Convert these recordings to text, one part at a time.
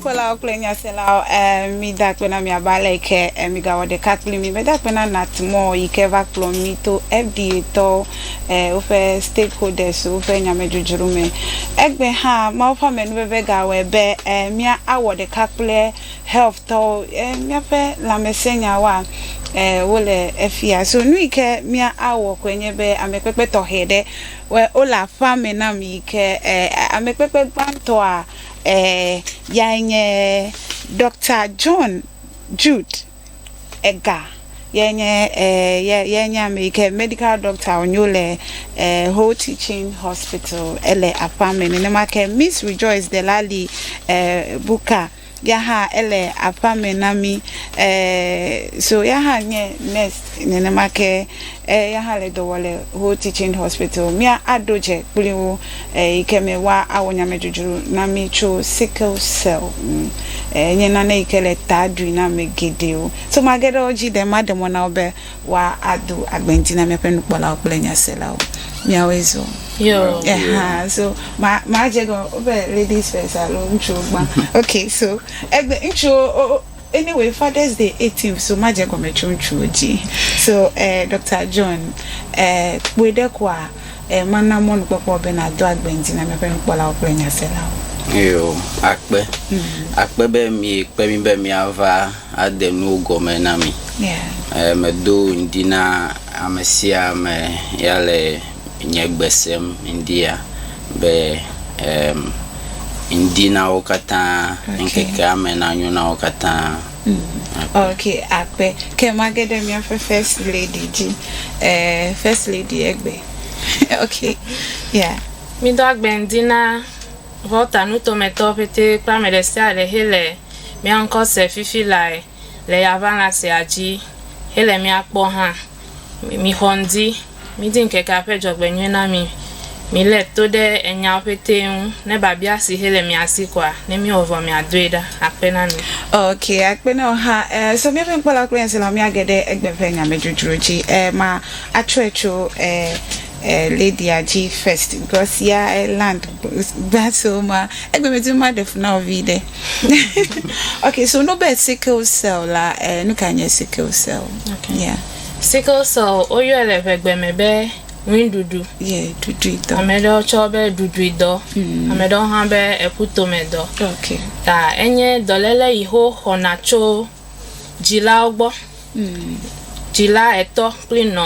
Nukpɔlawo kple nyaselawo eh, mida kpe na miaba le ke eh, migawɔ ɖeka kpli mi meda kpe na natmɔ yi ke va kplɔ mi to fda tɔwo woƒe stakeholders woƒe nyamedzodzro me. Egbe hã, Mawu ƒe amenuveve gawɔe be mía awɔ ɖeka kple health tɔwo. Míaƒe lãmesẽ nyawoa, wole efia. So nu yi ke mía awɔ koe nye be ame kpekpe tɔxɛ ɖe wole aƒea me nam yi ke ame kpekpe gbãtɔa yae nye Doctor John Jude. Edgar ye nye eh ye nye ame yi ke medical doctor wònyo le eh whole teaching hospital ele aƒea me nenema ke miss rejoice delali eh buka ya hã ele aƒea me na mi eh so ya hã nye nurse nenema ke Eya hã le dɔ wɔ le Whole Teaching Hospital. Mía a ɖo dze kpli wo eyi ke me woa a wɔ nyamedudru na mí tso sickle cell ŋu. E nye nane yi ke le ta ɖui na ame geɖewo. So mage ɖe wo dzi ɖe ma ɖe mɔ na wo be woa a do agbɛŋti na míaƒe nukpɔlawo kple nyaselawo. Míawoe zɔ. Yo. Eha, so ma, ma dze egɔme be ladies first alo ŋutsuwo gbã. Ok, so egbe, ŋutsuwo o, o. Anyway fathers day eighteenth so madze gɔme tso ŋutsuwo dzi so eh Doctor John eh kpɔe ɖe koa eh mana mɔnukpɔkpɔ be nàdo agbe ŋdi na míaƒe nukpɔlawo kple nyaselawo. Eyo akpe. Akpe be miekpe mí be míava ade nuwo gɔme na mi. Eh medo ŋdi na amesia ame ya le. nye gbe sem ŋdia be um, ŋdi na wo katã, okay. ŋkekea me nanyo na wo katã. Mm. Ok, akpe. Ke mage ɖe míaƒe first lady dzi. Eh, first lady egbe. ok, ya. Yeah. Mídɔ agbe ŋdi na Volta nutometɔ ƒete kple ame ɖe sia ɖe hele mía ŋkɔ se fifi lae le yaʋala sia dzi hele mía kpɔ hã. mixɔ ŋdi, midi ŋkekea ƒe dzɔgbenyui na mi, milé to ɖe enyawo ƒetee ŋu, ne biabia si he le mia si koa, ne miwɔ vɔ miadoe ɖa. Akpe na mi. Ok, akpe na wò hã. E, so míaƒe nukpɔlawo kple hiãsilawo míage ɖe egbe ƒe nyamedzodzro dzi. E, ma, atsɔe tso e, eh, Lydia dzi first because ya eh, land gba so ma egbe me tu ma ɖe funa ovi ɖe okay so no be sickle cell la eh, nu ka nye sickle cell okay. yeah. sickle cell woyɔe le ʋegbe me be ŋuiɖuɖu yeah, ɖuɖuidɔ ame ɖewo tsɔ be ɖuɖuidɔ mm. ame ɖewo hã be eƒutomedɔ okay. ta enye dɔléle yi ho xɔna tso dzilawo gbɔ mm. dzila etɔ kple nɔ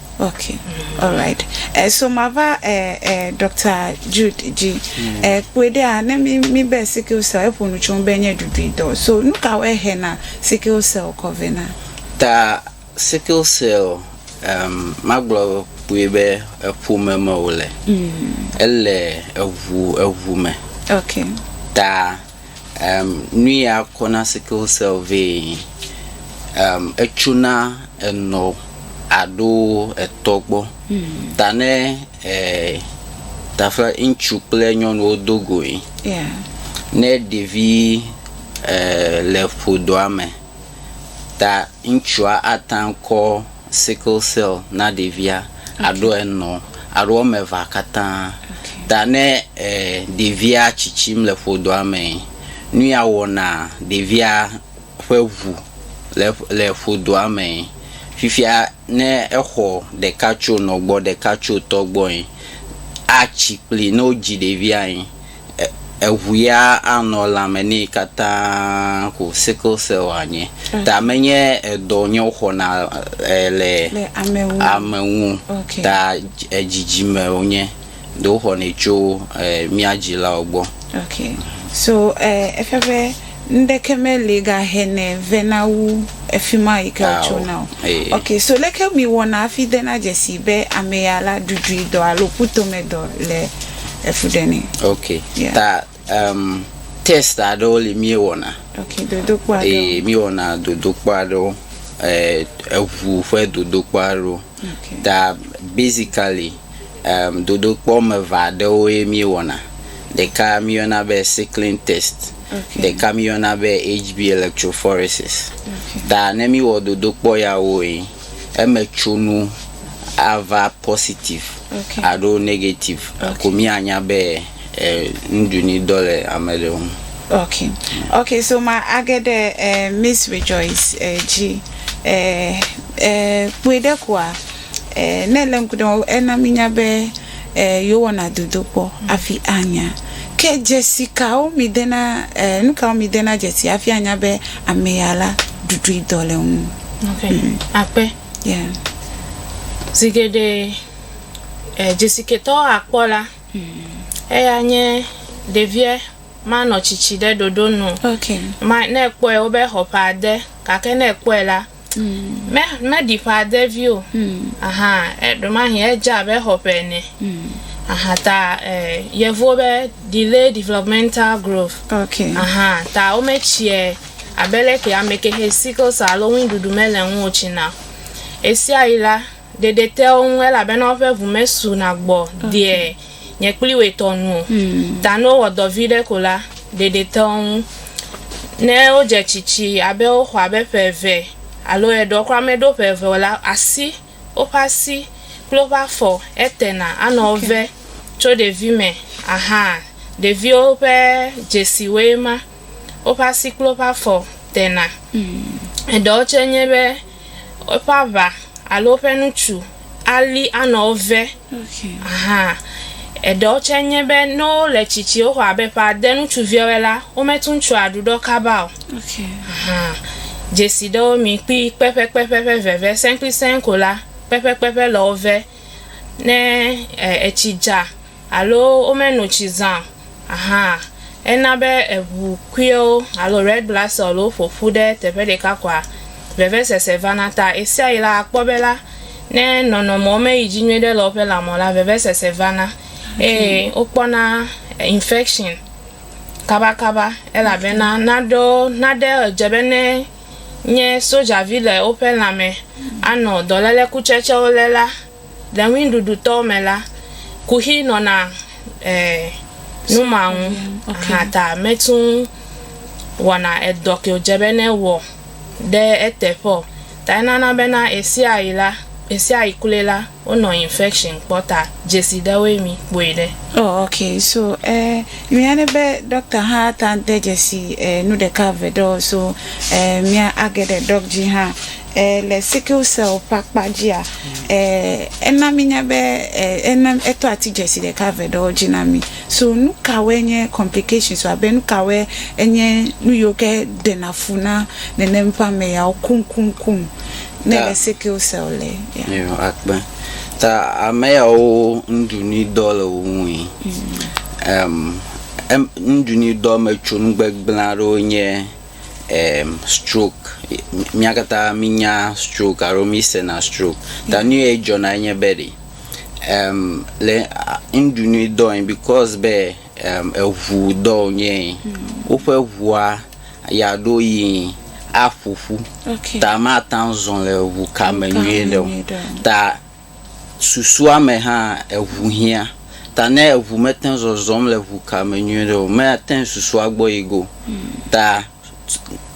Okay, all right. Eh, so mava eh, eh, Dr. Jude dzi. Mm. Eh, kpɔe ɖea ne mi mi be sickle cell eƒo nu tso be nye ɖuɖui dɔ. So nu ka wɔe he na sickle cell kɔ vɛ na? Ta sickle cell um, magblɔ kpɔe be eƒome me wòle. Mm. Ele eŋu eŋu me. Okay. Ta Em, nu ya kɔna sickle cell vɛ. Em, etsona enɔ aɖo etɔ gbɔ. Ta ne e, taƒe ŋutsu kple nyɔnuwo do goe, Yeah. ne ɖevi e, le ƒodoa me, Ta ŋtsua ataŋ kɔ sickle cell na ɖevia aɖo enɔ alo woamevea katã. Ta ne ɖevia tsitsim le ƒodɔa me, nuya wɔna ɖevia ƒe ŋu le le ƒodɔa me. Fifia ne exɔ ɖeka tso nɔ gbɔ, ɖeka tso tɔ gbɔe, atsi kpli ne wodzi ɖeviae. eŋu ya anɔ lãme nɛ katã ko sickle cell anye. Okay. Ta menye edɔ nye woxɔna le, le ame ŋu. Okay. Ta dzidzime wonye. Ɖe woxɔnɛ tso mía dzilawo gbɔ. Okay. So eh, efia be ŋɖeke meli gahɛnɛ vena wu efima yi ke wotsona o. Ok, so leke miwɔna hafi dena dzesii be ameya la ɖuɖuidɔ alo ƒutomedɔ le efu ɖe nɛ? Ok, ta em test aɖewo li miewɔna. Ok, dodokpɔ aɖewo. Ee, miwɔna dodokpɔ aɖewo, e eŋu ƒe dodokpɔ aɖewo. Ta basically em dodokpɔ wɔme eve aɖewoe miewɔna. Ɖeka miyɔna be sickling test. ɖeka miyɔna be HB electrophoresis. Ta ne mi wɔ dodokpɔ ya wo yi, eme tso nu a va positive alo negative ko mi a nya be nuɖu ni dɔ le ame ɖe ŋu. Ok, ok, so ma a ge ɖe Miss Rejoice dzi kpɔe ɖe koa. Ɛɛ, ne ele ŋku ɖem, ena mínya be ɛɛ yewowɔna dodokpɔ hafi anya. Ke dzesi kawo mìdena, ɛɛ nu kawo mìdena dzesi hafi anya be ame ya la, ɖuɖui dɔ le eŋu? Ok, akpe. Yeah. Zi geɖe ɛɛ dzesiketɔwo akpɔ la, eya nye ɖeviɛ ma nɔ tsitsi ɖe ɖoɖo nu. Ok. Ma, ne ekpɔɛ wobe exɔ ƒe ade. Gake ne ekpɔɛ la, mm. me meɖi ƒe ade vi o mm. aha ɖomahi edze abe xɔ ƒe ene mm. aha ta eh, yevuwo be delay developmental growth okay. aha ta wometsie abe leke ame kexe sickle cell alo ŋuɖuɖu mele ŋu o tsi na esia yi la Ɖeɖe te wo ŋu elabena woƒe ŋu mesu na gbɔ deɛ nye kpli woe tɔ nu o. Ta ne wowɔ dɔ viɖe ko la, ɖeɖe te wo ŋu. Ne wodze tsitsi abe woxɔ abe ƒe eve alo eɖewo kura meɖo ƒe eve o la, asi, woƒe asi kple woƒe afɔ etena anɔ wo ve tso ɖevi me. Aha, ɖeviwo ƒe dzesiwoe ma. Woƒe asi kple woƒe afɔ tena. Eɖewo tse nye be. Eƒe aʋa alo eƒe nutsu ali anɔ wo ve. Aha. Eɖewo tse nye be ne wole tsitsi woxɔ abe ƒe ade nutsuviawoe la, wometu ŋutsua aɖuɖɔ kaba o. Aha. Dzesi ɖewo mi kpi kpɛƒɛkpɛƒɛ ƒe veve sɛnkplisɛnŋ ko la, kpɛƒɛkpɛƒɛ le wo ve. Ne e etsi dza. alo womeno tsi zã hã, ena be eŋu kpuiwo alo red blood cell-wo ƒo ƒu ɖe teƒe ɖeka koa, vevesese vana. Ta ɣesiaɣi la, akpɔ be la, ne nɔnɔmewo meyi dzi nyui ɖe le woƒe lãme o la, vevesese vana eye wokpɔna infection kabakaba elabena naɖewo, naɖe edze be ne nye sojavi le woƒe lãme anɔ dɔléle kutsetsewo lé la, Le ŋuiɖuɖutɔ me la, kuxi nɔna eh, numa ŋu okay. aha ta metu ŋu wɔna edɔ ke wòdze be ne wɔ ɖe eteƒe o. Ta enana bena ɣesiaɣi la, ɣesiaɣi kloe la, wonɔ infection kpɔ ta dzesi ɖewoe mi kpɔe ɖe. Oh okay, so eh, mia ne be doctor hã ate ŋu de dzesi eh, nu ɖeka eve ɖewo so eh, mia age ɖe doc dzi hã E le sickle cell ƒe akpa dzia, e ena míenya be e ena etɔ ati dzesi ɖeka eve ɖewo dzi na mí. So nu kawoe nye complications abe nu kawoe enye nu yiwo ke ɖena fu na nenem ƒe ame yawo kuŋkuŋkuŋ ne Ta- le sickle cell le. Yeah. Eyo akpe. Ta ame yawo nuɖunuidɔ le wo ŋui. Em, em, nuɖunuidɔ me tso nugbegblẽ aɖewo nye em stroke mía katã mínya stroke alo mísena stroke ta nu ye dzɔna enye be ɖe em le a ŋɖu nui dɔ ye because be em eŋu dɔ wonye ye woƒe ŋua yeaɖo yi aƒoƒu Okay. ta mate ŋu azɔ le ŋu ka me Ŋu ka me nyuie ɖe o nyuie ɖe o. ta Susua me hã, eŋu hiã. Ta ne eŋu mete zɔzɔm le ŋuka me nyuiɖe o, mate ŋu susua gbɔ yi go. Ta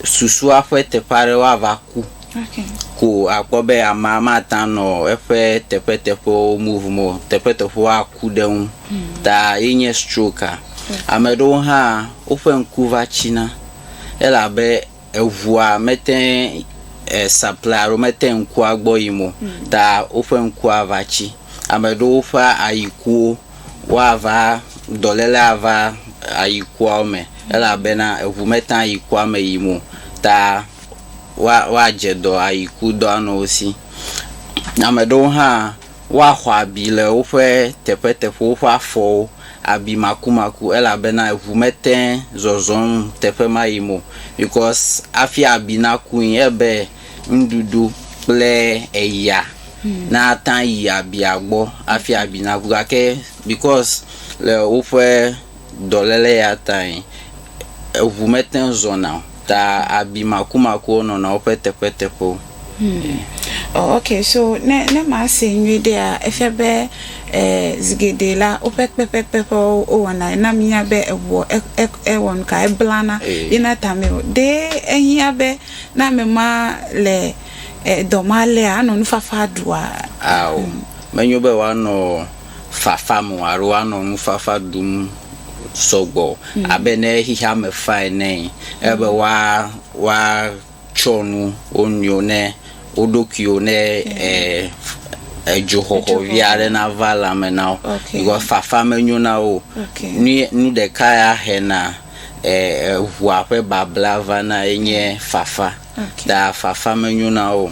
susua ƒe teƒe aɖewo ava ku ko akpɔ be amea mate ŋu anɔ eƒe teƒeteƒewo move o. Teƒeteƒewo aku ɖe eŋu. Ta ye nye stroke-a. Ame aɖewo hã, woƒe ŋku va tsina elabe. eŋua mete ŋu sapply alo mete ŋu ŋkua gbɔ yim o ta woƒe ŋkua va tsi. Ame aɖewo ƒe ayikuwo, woava, dɔléle ava ayikuawo me elabena eŋu mete ŋu ayikua me yim o ta woa woadze dɔ ayikudɔa nɔ wo si. Ame aɖewo hã. Woaxɔ abi le woƒe teƒeteƒewo ƒe afɔwo, abi makumaku, elabena ʋu mete zɔzɔm teƒe ma yim o, because hafi abi nakui ebe nuɖuɖu kple eya nata yi abia gbɔ hafi abi naku. Gake because le woƒe dɔléle ya tae, eʋu mete zɔna o. Ta abi makumakuwo nɔna woƒe teƒeteƒewo. Hm. Oh, ok, so ne, ne masee nyuiɖea, efia be eh, zi geɖe la, woƒe kpekpekpeƒewo wowɔna na mínya be eŋuɔ, e, e, ewɔ nu ka, eblana eh. yina tame o. Ɖe ehiã be ne ame ma le eh, dɔ ma lea, anɔ nufafa ɖua? Ao. Hm. Menyo be wòanɔ fafa me o alo woanɔ nufafa dum sɔgbɔ o. Mm. Abe ne xexea me fa ene, ele be woa woatsyɔ nu wo nɔewo ne wo ɖokuiwo ne e edzoxɔxɔ vi aɖe nava le ame na wo. Okay. Because fafa menyo na wo o. Okay. Nu nu ɖeka ya hena e eŋua ƒe babla vana ye nye fafa. Okay. Ta fafa menyo na wo o.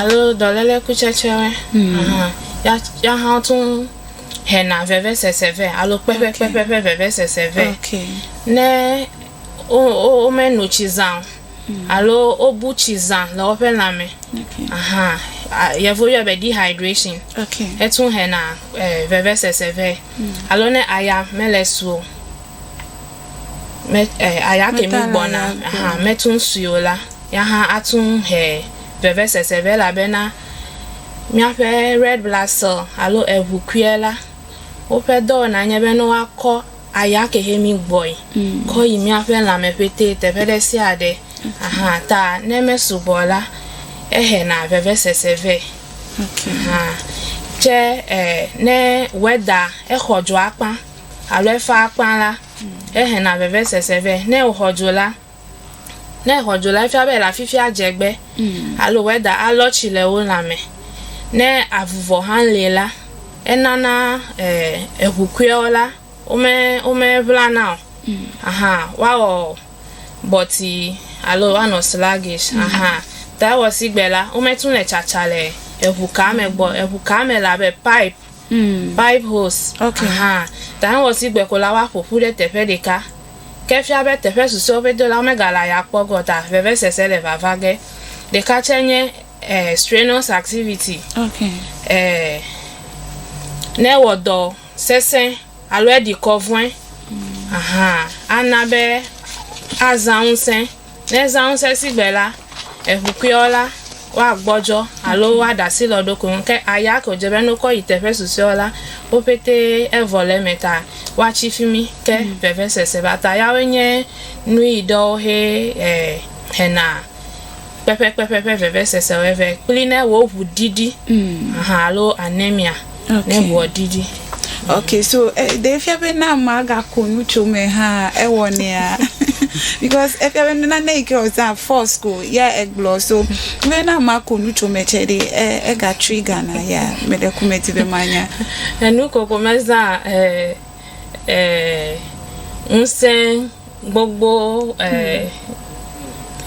Alo dɔléle kutsetsewɔe ahan. Yɔa hã wotu hɛna vevesese vɛ alo kpekpekpeƒe ƒe vevesese vɛ. Ne wome no tsi zã o alo wobu tsi zã le woƒe lã me ahan, yevuwo yɔe be dehydration, etu hɛna vevesese vɛ. Alo ne aya mele su o. Me, eh, aya ke mi gbɔna, aha, metun suyo la, ya hã atun he vevesese vɛ labena míaƒe red blood cell alo eŋu kuiɛ la, woƒe dɔwɔna nye be ne woakɔ aya ke he mi gbɔe kɔ yi míaƒe lãme ƒetɛ teƒe ɖe sia ɖe. Aha, ta ne mesugbɔ la, ehena vevesese vɛ. Aha, tsɛ, eh, ne weather exɔ dzoa kpã alo efa akpa la, ehena vevesese vɛ. Ne wòxɔ dzo la, ne exɔ dzo la, efia be ele afi sia dze egbe alo wɛda alɔ tsi le wo lãme. Ne avuvɔ hã li la, enana eŋu kuiwo la, wome, womeŋlana o. Ahan, woawɔ bɔti alo woanɔ sluggish. Ahan. Ta ewɔ sigbe la, wometu le tsatsa le eŋukaa me gbɔ o. Eŋukaa me le abe pipe. Bibles hã gake ŋɔtigbe ko la woaƒo ƒu ɖe teƒe ɖeka. Ke efia be teƒe susɔewo ƒe dolawo megale aya kpɔ ge o ta vevesese le vava ge. Ɖeka tsɛ nye strenuous activity, ne ewɔ dɔ sesẽ alo eɖi kɔ vɔe ana be azã ŋusẽ. Ne zãŋusẽsigbe la, eŋu kuiɔ la, woagbɔdzɔ alo woaɖe asi le wo ɖokui ŋu. Ke aya ke wòdze be ne wokɔ yi teƒe susɔeawo la, wo ƒete evɔ le eme ta woatsi fi mi ke vevesese va ta. Yawoe nye nuyi ɖewo he e hena kpɛƒɛkpɛƒɛ ƒe vevesesewo vɛ kple ne wò ŋu ɖiɖi ahan alo anemia. Okay, so eh, ɖe efia be ne ame agako nu tso me hã ewɔnɛa because efia be nane yi ke wòzã force ko ya egblɔ so be ne ame ako nu tso me tsɛ ɖe e- ega trigger na ya meɖe ku medi be manya Enu koko mezã eh, eh, ŋusẽ gbogbo eh,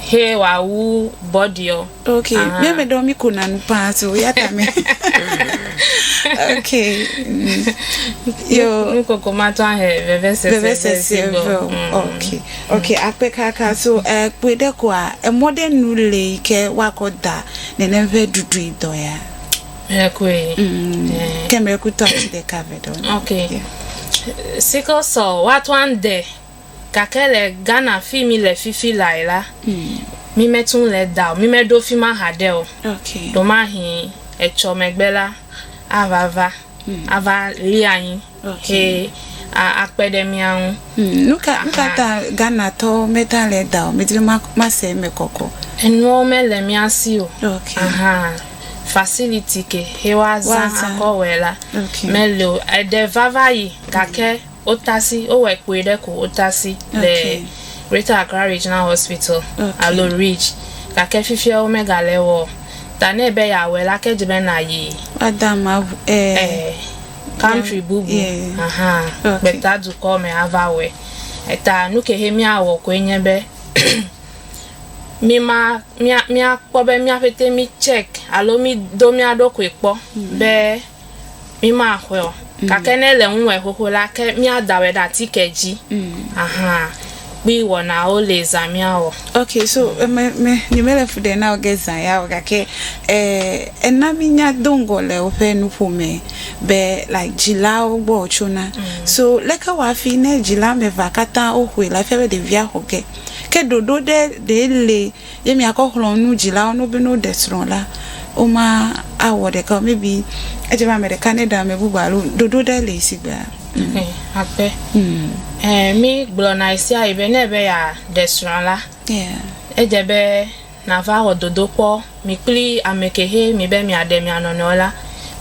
he wòawu bɔɖiɔ. Ok, Aha. mía me ɖewo míkona nu paa so ya ta me. ok. mm. Yo, Nukoko matɔ ahe vevesese ɖe vevesese si gbɔ. ve o. Mm. Ok, ok, akpe kaka so eh, kpɔe ɖe koa, emɔ ɖe nu le yi ke woakɔ da nenem ƒe ɖuɖui dɔ ya. Miracle. Mm. Eh. Ke miracle to ati ɖeka ve ɖe wona. Okay. Yeah. Sickle cell woato ande gake le Ghana fi mi le fifi lae la. Mm. Mi metu le da o. Mi meɖo fi ma haɖe o. Okay. Ɖomahi etsɔ megbe la avava. Mm. Ava li anyi. Ʋɛ a akpe ɖe mía ŋu. Hmm, nuka nuka ta Ghana tɔ meta le da o medri ma ma se me kɔkɔ. Enuwo me le mía si o. Ok. Aha. Facility ke he wa za akɔ wɛ la. Ok. Me le o. Ede vava yi gake hmm. otasi o wɛ kpoe ɖe ko otasi le Greater Accra Regional Hospital okay. alo Ridge gake fifia wo me ga le wɔ. Ta ne be ya wɛ la ke dze be na yi. Wa da ma eh. eh. country bubu yeah. aha okay. gbeta dukɔ me ava wɔe eta nu ke he míawɔ koe nye be míma míakpɔ be míaƒete mi check alo mi do mía ɖokui kpɔ mm. be mímaxɔe o mm. gake ne le ŋuwɔe xoxo la ke míadawɔe ɖe atike dzi mm. aha kpli wɔnawo li zã miawɔ. Ok so me me nye me le fu ɖe na oge zã ya o gake eh ena mi nya do ŋgɔ le woƒe nuƒo me be like dzilawo gbɔ o tso na so leke wa fi ne dzila me va katã o xoe la fia be ɖevia xɔ ge ke ɖoɖo ɖe ɖe le Ye miakɔ xlɔ̃ nu dzilawo no be ne woɖe srɔ̃ la, woma awɔ ɖeka o. Maybe edze be ame ɖeka neɖe ame bubu alo ɖoɖo ɖe li si gbe. Ƒe aƒe. Ɛ mi gblɔ na ɣesia ɣi be ne ebe ya ɖe srɔ̃ la, Yeah. edze be na va wɔ dodokpɔ mi kpli ame ke he mi be mia ɖe mia nɔnɔewo la,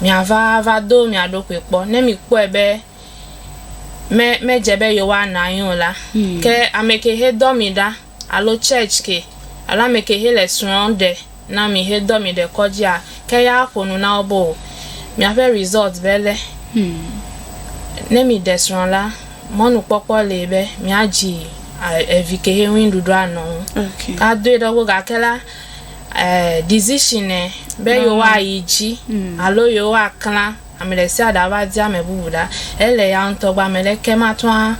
mia va va do mia ɖokui kpɔ. Ne mi kpɔe be me me dze be yewoa na anyi o la, ke ame ke he dɔ mi ɖa alo church ke alo ame ke he le srɔ ɖe na mi he dɔ mi ɖe kɔdzi a ke ya a ƒo nu na wo be o miaƒe result be le. Ne mi ɖe srɔ la mɔnu kpɔkpɔ le be mia dzi evi ke he ŋui nuɖuɖu a nɔ ŋu. A doe ɖe wo gake la decision be yewo a yi dzi alo yewo a kla. Ame ɖe sia ɖe ava di ame bubu ɖa, ele ya ŋutɔ gbɔ, ame ɖeke mate ŋu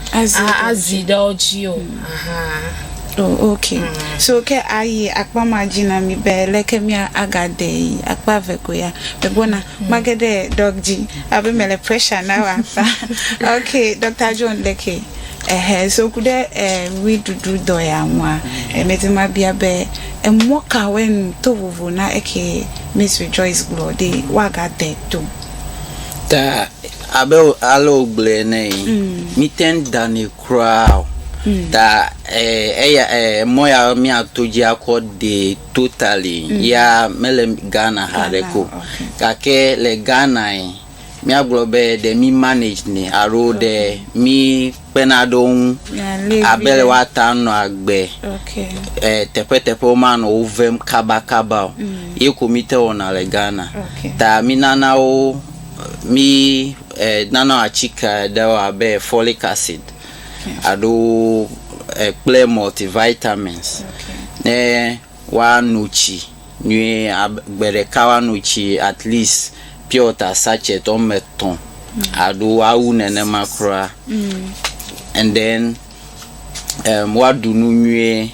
azi ɖe wo dzi o. Aha. O, ok. So ke ayi akpa ma dzi na mí be leke mía aga de yi akpa eve ko ya. Me gbɔna. Ma ge ɖe Doc dzi abe me le pressure na wò akpa. Ok, Doctor John ɖekee. Ehe, so ku ɖe ʋuiɖuɖu dɔ ya ŋua, me di ma bia be, emɔ kawoe nu to vovo na eke? Miss Joyce gblɔ ɖi woagade to. Ta abe ale wògblɔe ene yi, míte ŋu danɛ kura o. Ta eya mɔ ya míato dzi akɔ dee totally ya mele Ghana haɖe ko. Gake le Ghana yi, míagblɔ be ɖe mí manage nɛ alo ɖe mí. kpena ɖe wo ŋu abe le woata ŋu nɔ agbe e teƒeteƒe womanɔ wo vem kabakaba o. Ye ko mi te wɔna le Ghana. Ta mi nana wo mi e nana atsike aɖewo abe folic acid alo e kple multivitamins ne. woano tsi nyuie abe gbe ɖeka woano tsi at least pure water sachet wɔme etɔ̃ alo awu nenema kura and then em woaɖu nu nyuie.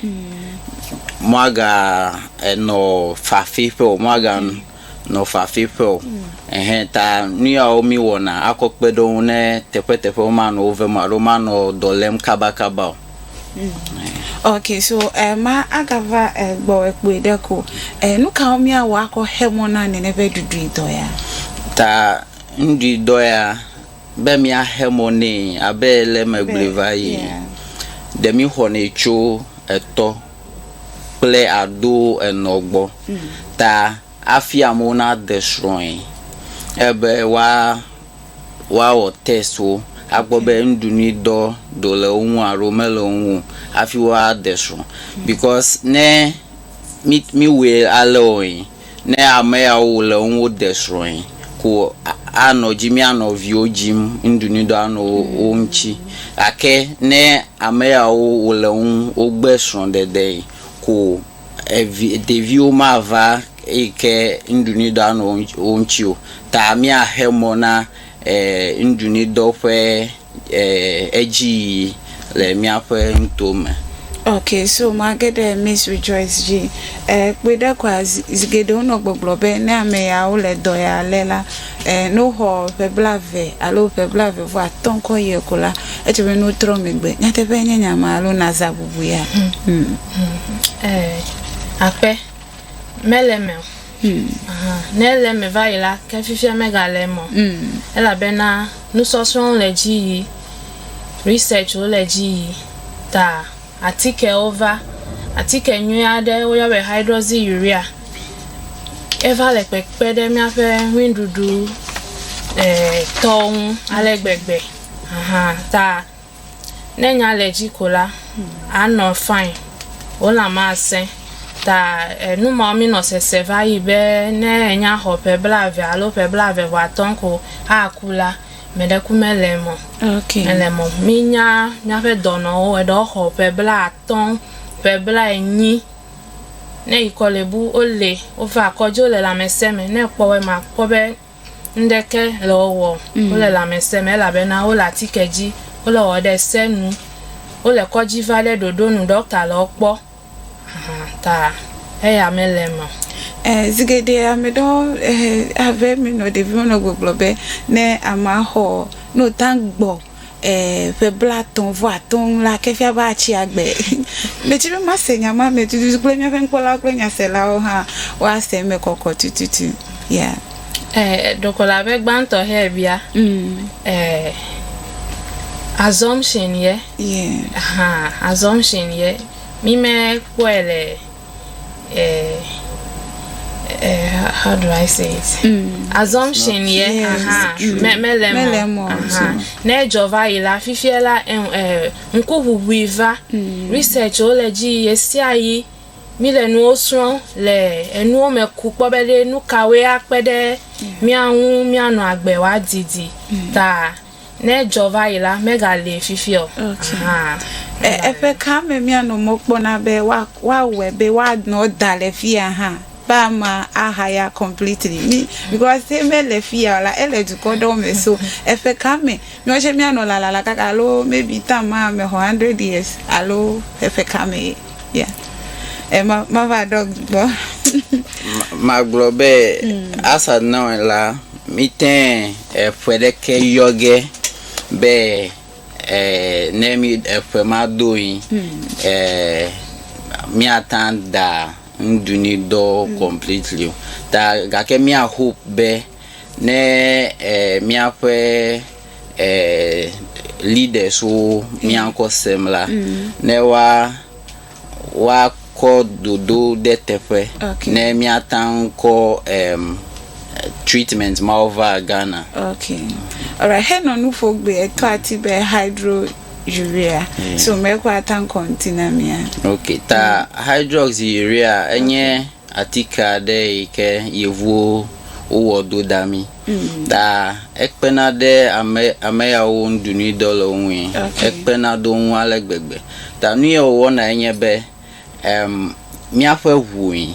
Moaga enɔ fafe ƒe o moaga. nɔ fafi ƒe o. Ɛhɛ ta nuyawo mí wɔna akɔ kpeɖeŋu ne teƒeteƒewo manɔ wo vem o alo manɔ dɔ lém kabakaba o. Ok so ema agava gbɔwɛ kpoe ɖe ko. Nukawo mí awɔ akɔ xe mɔ na nɛnɛ ƒe ɖuɖui dɔ ya? Ta nuɖui dɔ ya be mía xe mɔ nɛ abe le megblɔe va yi. Ɖe mí xɔnɛ tso etɔ kple ado enɔ gbɔ ta hafi amewo nade srɔ̃e. Ele be woawɔ test wo akpɔ be nuɖuɖui dɔ ɖe le wo ŋu alo mele wo ŋu o hafi woade srɔ̃ because ne mi miwɔe alea wɔe. Ne ame yawo wo le ŋwo de srɔ̃e ko a nɔ dzi mía nɔviwo dzim ŋɖunuidɔ a nɔ wo ŋtsi. Gake ne ame yawo wo le ŋ wo gbe srɔ̃ɖeɖee ko evi ɖeviwo ma va eyi ke ŋɖunuidɔ a nɔ wo ŋtsi o ta mía xe mɔ na e ŋɖunuidɔ ƒe. edzi yiyi le míaƒe nuto me. Okay so mage ɖe Miss Rejoice dzi. Kpɔe ɖa kɔa, zi geɖe wonɔ gbɔgblɔ be ne ame yawo le dɔ ya le la, ne woxɔ ƒe blaeve alo ƒe blaeve vɔ atɔ̃ kɔ yie ko la, edze be ne wotrɔ megbe. Nyateƒe nye nya ma alo nazã bubu ya? Aƒe, mele eme o. Ne ele eme va yi la, ke fifia megale eme o. Elabena nusɔsrɔ̃wo le edzi yi, researchwo le edzi yi ta atikewo va, atike nyui aɖe woyɔna be hydroxy urea eva le kpekpe ɖe míaƒe ŋuiɖuɖu tɔwo ŋu ale gbegbe ta Ne nya le dzi ko la, anɔ fine. Wo lã masẽ. Ta enu mawo mi nɔ sese va yi be ne enya xɔ ƒe blave alo ƒe blave vɔ atɔ̃ ko aku la, me ɖe ku me le mɔ. Okay. Me le mɔ. Mi nya miaƒe dɔnɔwo eɖewo xɔ ƒe bla atɔ̃, ƒe bla enyi. Ne yi kɔ le bu wo le, wo va kɔdzi wo le lãmesẽ me. Ne ekpɔ wɔ ma kpɔ be Ŋɖeke le wo wɔm. Wole lãmesẽ me elabena wole atike dzi. Wole wɔwɔ ɖe se nu. Wole kɔdzi va ɖe ɖoɖo nu. Ɖɔkta le wo kpɔ hã ta eya mele eme o. Ɛ, zigeɖe ame ɖewo ɛhɛ ave mi nɔ ɖeviwo nɔ gbɔgblɔ be, ne ama xɔ, no ta gbɔ. eh, ƒe blatɔ̃ vɔ atɔ̃ ŋu la, ke fia be atsi agbe. Medi be mase nya ma me tututu kple míaƒe nukpɔlawo kple nyaselawo hã woase eme kɔkɔ tututu. Yeah. Eh, ɖeko le abe gbãtɔ hɛ bia, Mm. eh, assumption ye. Yeah. Aha, assumption ye. Mi me kpɔe le uh, uh, how do I say it? Mm. Assumption, yeah. Yes, aha. Me, mele mo. Mele mo. Aha. Ne jova ila fifia la eh, eh, nku huhui va. Mm. Research o le ji yesia yi. Mi le nuwo srɔ̃ le enuwo me ku kpɔ be ɖe nu kawoe akpe ɖe mía ŋu míanɔ agbe wòadidi mm. ta. Ne edzɔ va yi la, megali fifia o. Okay. Aha. E, eƒe ka me míanɔ mɔ kpɔna be woawɔe be woanɔ da le fia hã be ama ahaya completely mi because he mele fia o la ele dukɔ ɖewo me so eƒe ka me míawo tsɛ míanɔ lalala kaka alo maybe tam ma ame xɔ hundred years alo eƒe ka me ye ya e ma ma va ɖɔ gbɔ. magblɔ be mm. asa nɔe la mite Eƒe ɖeke yɔ ge be ne mi eƒe ma do yin miata da ŋduni dɔ completely o ta gake mia hope be ne miaƒe leaders wo miakɔ sem la ne wa woakɔ dodo ɖe teƒe ne míata ŋu kɔ treatment mawo va Ghana. Ok. Alright, henɔ nu ƒo gbe eto ati be hydro urea. So me ko ata ŋu kɔ ŋuti na mía. Ok, ta hydrox urea enye atike aɖe yi ke yevuwo wowɔ do da mí. Ta ekpena ɖe ame ame yawo wo nuɖunuidɔ le wo ŋui. Okay. Ekpena ɖe wo ŋu ale gbegbe. Ta nu ye wòwɔna ye nye be em míaƒe ŋui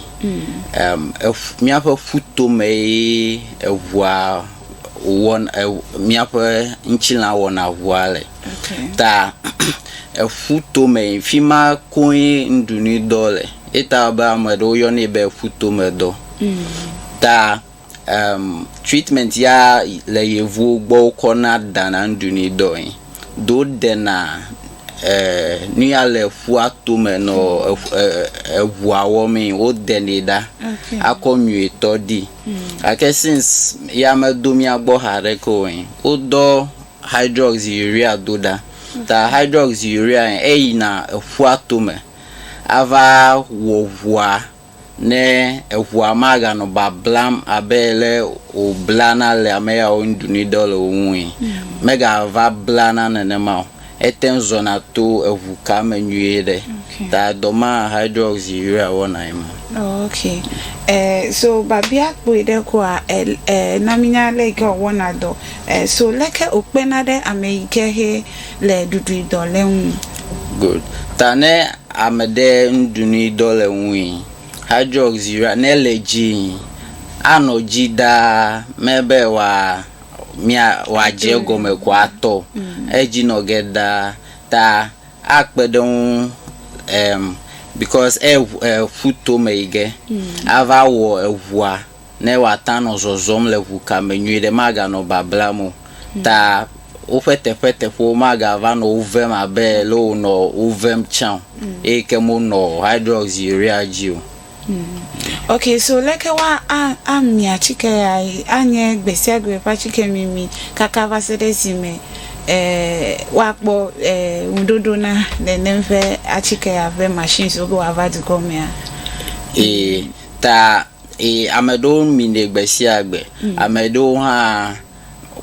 em eƒu míaƒe ƒutome ye eŋua wɔn e míaƒe ŋutilã wɔna ŋua le. Okay. Ta eƒutome fi ma koe nuɖunuidɔ le. Ye ta be ame aɖewo yɔnɛ be eƒutomedɔ. Ta Emm treatment ya le yevuwo gbɔ wokɔ na dana nuɖunui dɔ yi do dena e nuya le ƒua tome nɔ eŋua wɔmee wodenɛ ɖa akɔ nyuitɔ di gake since ya medo mía gbɔ haɖeke o yi wodɔ hydrox urea do ɖa ta hydrox urea eyina eƒua tome ava wɔ ŋua. ne eŋua maganɔ bablam abe ale wòblana le ame yawo ŋu ɖu dɔ le wo ŋui, megava blana nenema o. Ete ŋu zɔna to eŋu ka me nyuie ɖe. Okay. Ta dɔ ma hydroxyurea wɔnae ma. Oh, okay. Eh, so babia kpɔe ɖe koa, eh, eh, na mínya leke wòwɔna dɔ. Eh, so leke wòkpena ɖe ame yi ke he le ɖuɖuidɔ le ŋu. Good. Ta ne ame ɖe nuɖunuidɔ le ŋui, hydroxyurea, ne le dzii, anɔ dzi ɖaa me be wòa, mia, wòadze egɔme ko atɔ edzi nɔ ge ɖaa. Ta akpe ɖe ŋu em, because eŋu, eƒu tome yi ge ava wɔ eŋua. ne woata nɔ zɔzɔm le ʋu ka me nyuiɖe, maganɔ bablam o, ta woƒe teƒeteƒewo magava nɔ wo vem abe le wonɔ wo vem tsã o, eyi ke monɔ hydroxyurea dzi o. Ok, so leke woa a a mi atike ya yi anye gbesiagbe ƒe atike mimi kaka va se ɖe esime e woakpɔ e ŋuɖoɖo na nenem ƒe atike ya ƒe machines wo be woava dukɔ mea? Ee, ta Ee, ame aɖewo minɛ gbe sia gbe. Mm. Ame aɖewo hã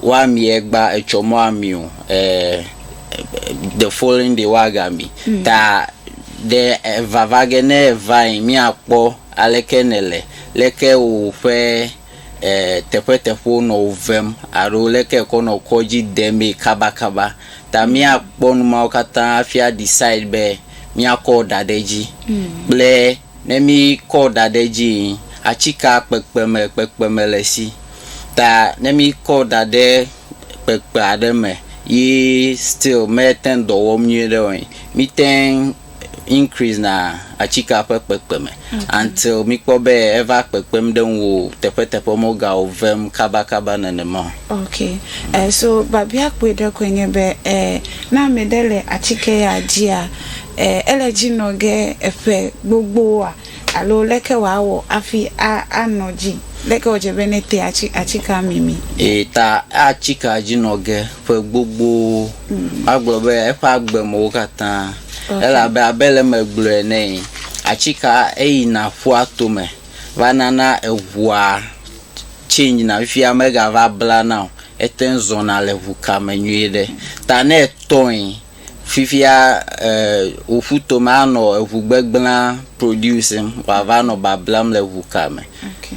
woamie gba etsɔ mɔ ami o. Eh, the following day woagami. Mm. Ta ɖe vava ge ne eva yi míakpɔ aleke nèle, leke woƒe eh, teƒeteƒewo nɔ wo vem alo leke ekɔ nɔ kɔdzi demee kabakaba. Ta mm. míakpɔ nu mawo katã hafi adecide be míakɔ da ɖe edzi mm. kple Ne mi kɔ ɖa ɖe edzi yi, atsika kpekpe me kpekpe me le si. Ta ne mi kɔ ɖa ɖe kpekpe aɖe me yi still me teŋ dɔ wɔm nyuie ɖe o yi, mi teŋ increase na atsika ƒe kpekpe me until mi kpɔ be eva kpekpem ɖe ŋuo teƒe teƒe me wo ga o vem kaba kaba nenema o. Ok, eh so babia kpui ɖe koe nye be eh ne ame ɖe le atsike ya dzia, Ẽ, ele edzi nɔ ge eƒe gbogboa? Alo leke wòawɔ hafi a, anɔ edzi? Leke wòdze be nete atsi, atsika mimi? Eyi ta atsika edzi nɔ ge ƒe gbogbowo. Woagblɔ be eƒe agbe me wo katã. Ok. Elabe abe ale megblɔe ene yi, atsika eyina ƒua tome va nana eŋua change-na fifia megava blana o. Ete ŋu zɔna le ŋu kame nyuiɖe. Ta ne etɔe. fifia wò ƒuto me anɔ eŋu gbegblẽa producing wòava nɔ bablam le ŋu ka me.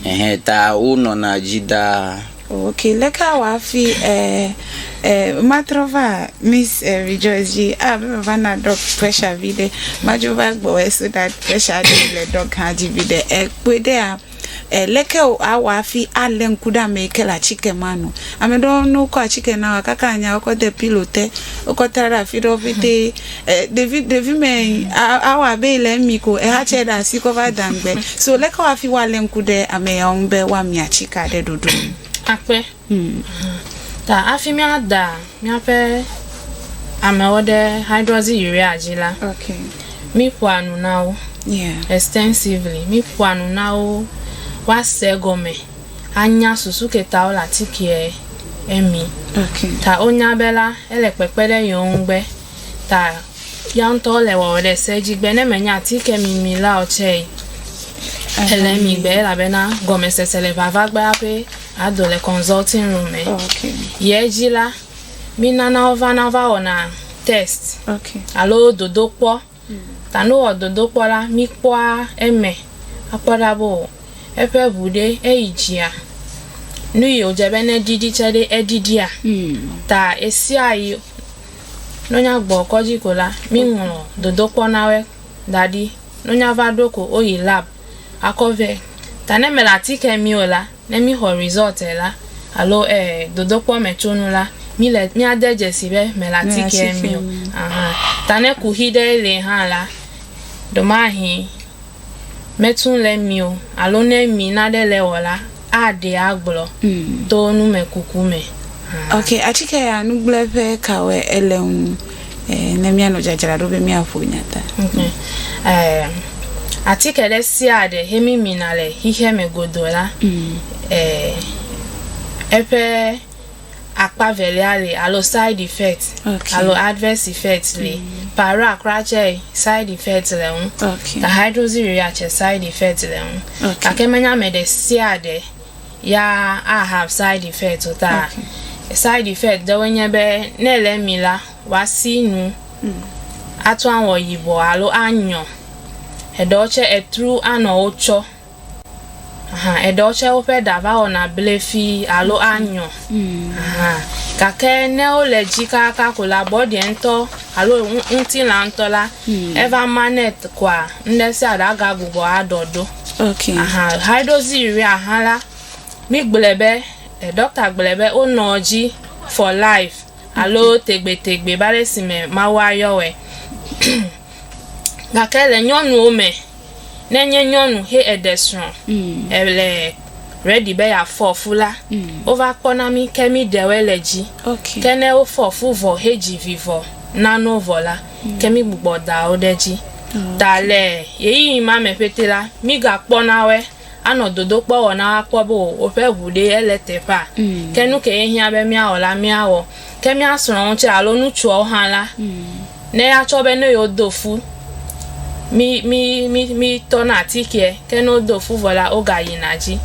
Ehe ta wonɔna dzi ɖaa. Ok, leke awɔ hafi eh, eh, matrɔ va Miss eh, Rejoice dzi abe meva na dɔg pressure viɖe madzo va gbɔwòe so that pressure aɖe le dɔg hã dzi viɖe ekpɔe ɖea. E, leke o awɔ afi ale ŋku ɖe amee ke le atike ma nu. Ame ɖewo ne wokɔ atike na wa kaka anya wokɔ de pilo te, wokɔ tra ɖe afi ɖewo ƒete. E, ɖevi ɖevi me awɔ abe yi le emi ko ehatsɛ ɖe asi kɔ va da ŋgbe. So leke wɔ afi wɔ ale ŋku ɖe ame yawo ŋu be woamia atika ɖe ɖoɖo nu. Akpe, Ta hafi míada míaƒe amewo ɖe hydroxyurea dzi la, míƒoa nu na wo extensively. Míƒoa nu na wo woase egɔme anya susu ke ta wole atikea emi. Ta wonya be la, ele kpekpe ɖe yewo ŋu be ta yeawo ŋutɔ wole wɔwɔ ɖe se dzi be ne menye atike mimi la o tsɛ yi, ele emi be elabena gɔmesese le vava gbea ƒe. Ado le consulting room me. Oh, okay. Yɛ dzi la, mínana wovana va wɔna test okay. alo dodokpɔ. Mm. Ta ne wowɔ dodokpɔ la, míkpɔa eme akpɔ ɖa be o eƒe ŋu ɖe eyi dzia, nu yi wòdze be neɖiɖi tsɛ ɖe eɖiɖia. Mm. Ta ɣesiaɣi ne wonyagbɔ kɔdzi ko la, míŋlɔ dodokpɔ na wɔe da ɖi. Nunya va ɖo ko woyi lab akɔ vɛ. Ta ne mele atike mi o la, ne mixɔ result la alo eh dodokpɔ me tso nu la, mi le mia de dzesi be mele atike mi o. Aha. Ta ne kuxi ɖe li hã la, ɖomahi me tun le mi o alo ne mi naɖe le wɔ la, aɖee agblɔ to numekuku me hã. Ok, atike ya nugblẽ ƒe kawoe ele ŋu ne míanɔ dzadzraɖo be míaƒo nya ta? Atike ɖe sia ɖe he mímina le xexeame godoo la, eƒe akpa velia li alo side effect okay. alo adverse effect li mm. para kura tsɛ side effect le ŋu okay. ta hydroxy urea tsɛ side effect le ŋu okay. gake menya ame ɖe sia ɖe ya a have side effect o ta okay. side effect ɖewo nye be ne le mi la wasi nu mm. atu awɔ yibɔ alo anyɔ eɖewo tsɛ etru anɔ wo tsɔ. Aha, eɖewo tsɛ woƒe ɖa va wɔna blefi alo anyɔ. Aha, gake ne wole dzi kakaka ko la, bɔɖiɛ ŋutɔ alo ŋu, ŋutilã ŋutɔ la, eva manɛ t koa, ŋɖe sia ɖe agagbugbɔ aɖɔ ɖo. Ok. Aha, hydroxy urea hã la, mígblɔɛ be, ɖɔkta gblɔɛ be wonɔ edzi for life. alo tegbetegbe va ɖe esime Mawu ayɔ wɔe. Gake le nyɔnuwo me, ne enye nyɔnu he eɖe srɔ̃, èle ready be yeafɔ fu la, wova kpɔna mí ke míɖe wɔe le dzi. Ke ne wofɔ fu vɔ hedzi vi vɔ na no vɔ la, ke mígbugbɔ da wo ɖe edzi. Ta le ɣeyiɣi ma me ƒete la, mígakpɔna wɔe. anɔ dodokpɔ wɔ na woakpɔ be woƒe ŋu ɖee ele teƒea. Ke nu kee hiã be míawɔ la, míawɔ. Ke mía srɔ̃wo tsɛ alo ŋutsuawo hã la, ne yeatsɔ be ne yewodo fu mí mí mí mítɔna atikeɛ. Ke ne wodo fu vɔ la, wogayina dzi.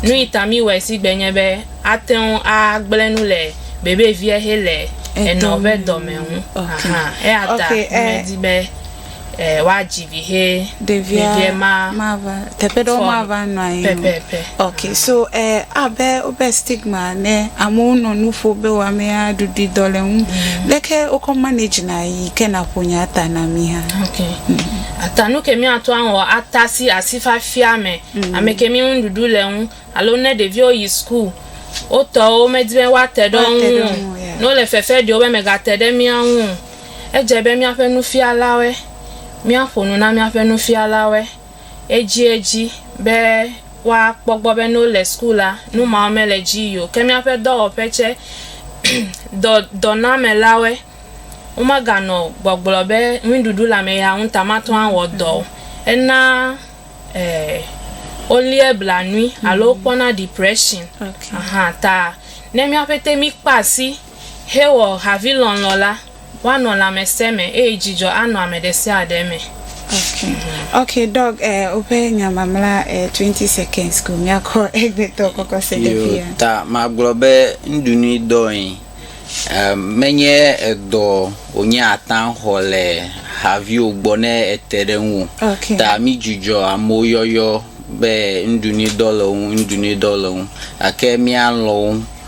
Nu yi ta míwɔɛ si gbe nye be ate ŋu agblẽ nu le bebeviɛ hele enɔ ƒe dɔme ŋu. Ahan. Eya ta medi be. woadzi vi he ɖevia ma mava teƒe ɖewo mava nɔ anyi pɛpɛpɛ ok so eh, abe wobe stigma ne amewo nɔ nu ƒo be wɔamea ɖuɖui dɔ le ŋu mm. leke wokɔ manage na yi ke naƒo nya ata na mi hã ok mm. ata nu ke miato awɔ ata si asi fafia me mm. ame ke mi ŋuɖuɖu le ŋu alo ne ɖeviwo yi school wotɔwo medi be woate ɖe ŋu ne wole fefe ɖewo be megate ɖe mía ŋu Edze be míaƒe nufialawoe míaƒo nu na míaƒe nufialawoe edziedzi be woakpɔ gbɔ be ne wole suku la, nu mawo mele edzi yii o. Ke míaƒe dɔwɔƒe tsɛ, dɔ, dɔnamelawoe, womeganɔ gbɔgblɔ be ŋuiɖuɖu le ame ya ŋu ta mate ŋu awɔ dɔ o. Ena e, woléa blanui alo wokpɔna depression. Okay. Ahan ta ne míaƒetɛ míkpa asi. Hewɔ havilɔlɔ̃ la, woanɔ lãmesẽ me eye dzidzɔ anɔ ame ɖesiaɖe me. Okay okay Doc eh woƒe nya mamla eh twenty seconds ko miakɔ egbetɔ kɔkɔ se ɖe fia. Yo ta magblɔ be nuɖunui dɔe eh menye edɔ wonye ata xɔ le haviwo gbɔ ne ete ɖe ŋu okay. Ta mi dzudzɔ amewo yɔyɔ be nuɖunui dɔ le wo ŋu nuɖunui dɔ le wo ŋu gake mia lɔ̃ wo.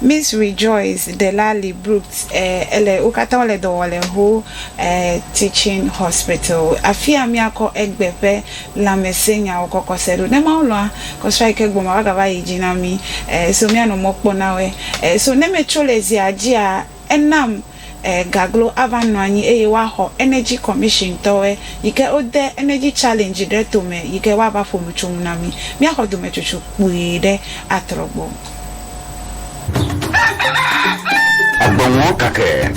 Miss Rejoice Delali Brooks, Ɛɛ, ele. Wo katã wole dɔ wɔm le Whole Earth Teaching Hospital. Afia míakɔ egbe ƒe lãmesẽnyawo kɔkɔ se ɖo. Ne Mawu lɔ̃a, kɔsua yi ke gbɔ ma, woagava ayi dzi na mí. Ɛɛ, so míanɔ mɔ kpɔ na wɔe. Ɛɛ, so ne metso le zia dzia, enam. e gaglo ava nɔ anyi eye woa xɔ energy commission tɔwɔe yike wo de energy challenge ɖe to me yike woa va ƒo nu tso ŋu na mi. Mía xɔ dome tsotso kpui ɖe atrɔ gbɔ. Agbe ŋɔ kake.